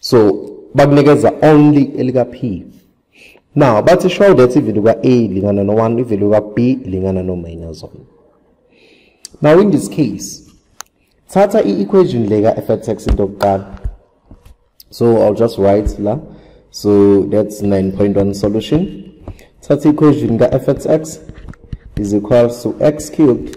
so bakunikeza only elika p now bathi show that ivalue ka a ilingana no 1 ivalue ka b ilingana no minus 1 now in this case thatha i-equation le ka f at x into yokuqala so i'll just write la so that's 9.1 solution thatha i-equation ka f at x is equals to x cubed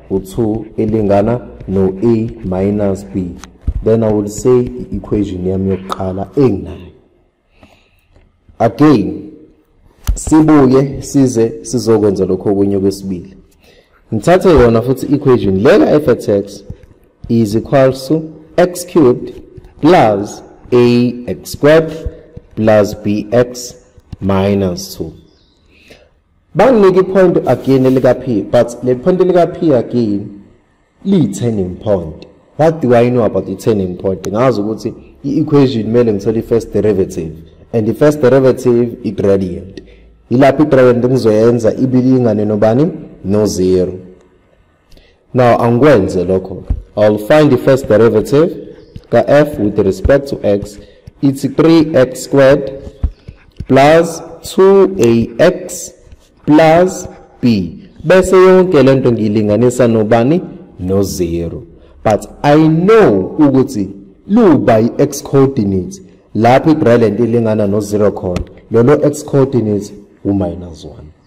u-2 ilingana no-a minus b then i will say i-equation yami yokuqala enginayo again sibuye size sizokwenza lokho okunye okwesibili ngithathe yona futhi i-equation le ka-f at x is equals to x cubed plus ax squared plus bx minus 2 Banginike ipoint again elika P but le point elika P again liyi turning point. What do I know about the turning point? Ngazi ukuthi i-equation kumele ngithole i-first derivative and the first derivative i-gradient. Yilapho i-gradient ngizoyenza ibilingane nobani? No zero. Now angikwenze lokho. I'll find the first derivative ka f with respect to x it's 3x squared plus 2ax plus b bese yonke lento ngiyilinganisa nobani no 0 but i know ukuthi luba i-x coordinate lapho i-gradient ilingana no 0 khona lolo x coordinate u-minus 1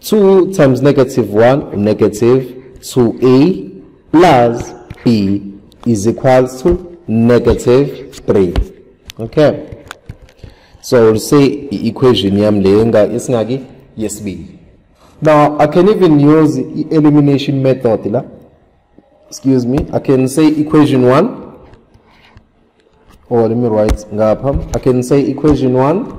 2 times negative 1 unegative 2a plus b is equals to negative 3 okay so we'll say i-equation yam le esingaki yesibili now i can even use i-elimination method la excuse me i can say equation 1 or let me write ngapha i can say equation 1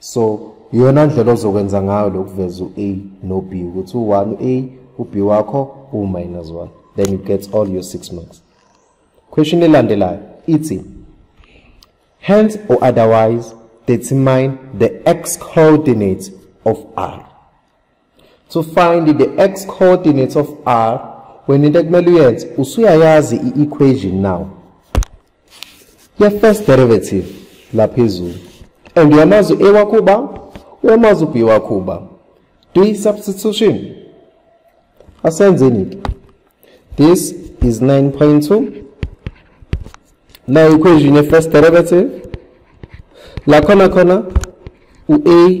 so iyona ndlela ozokwenza ngayo lokuveza u-a no-b ukuthi u-one u-a u-b wakho uwu-minus one then you get all your six marks question elandelayo ithi hence or otherwise determine the x coordinate of r to find the x coordinates of r wena into ekumele uyenze usuyayazi i-equation now ye-first derivative la phezulu and uyamazi u-a wakho uba uyamazi u-b wakho uba do i-substitution asenzeni-ke this is 9.2 na equation ye-first derivative lakhona khona u-a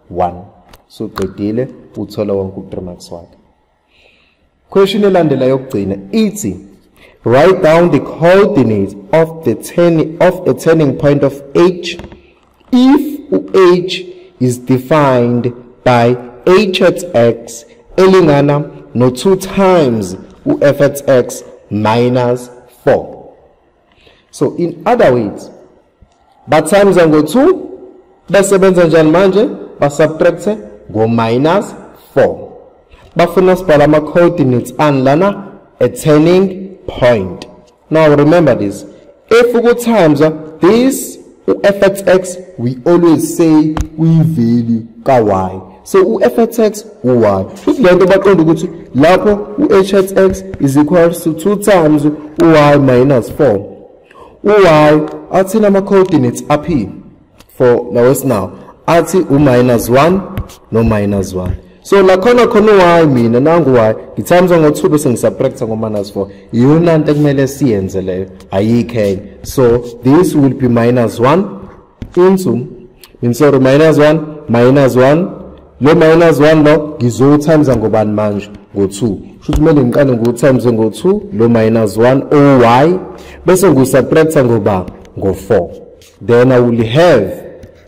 1 so qedile uthola wonke u3 marks wakhe question elandela yokugcina ithi write down the coordinates of the turning of a turning point of h if u-h is defined by h at x elingana no 2 times u-f at x minus 4 so in other words bathamza ngo-2 bese benza njani manje basubtracte ngo-minus 4 bafuna sibhala ama-coordinates ani lana a turning point now remember this if ukuthamza this u-fxx we always say uyivalue ka-y so u-fxx u-y futhi le nto baqonda ukuthi lapho u-hxx is equal to two times u-y minus four u-y athini ama-coordinates aphi for nawesinawo athi u-minus one no-minus one so lakhona khona why mina nangu why ngithamza ngo-two bese ngisapractise ngo-minus four iyona nto ekumele siyenze leyo ayikho enye so this will be minus one into min sorry minus one minus one lo minus one lo ngizowuthamza ngobani manje ngo-two shuthi kumele ngiqale ngiwuthamze ngo-two lo minus one oy bese ngiwusapractise ngoba ngo-four then i will have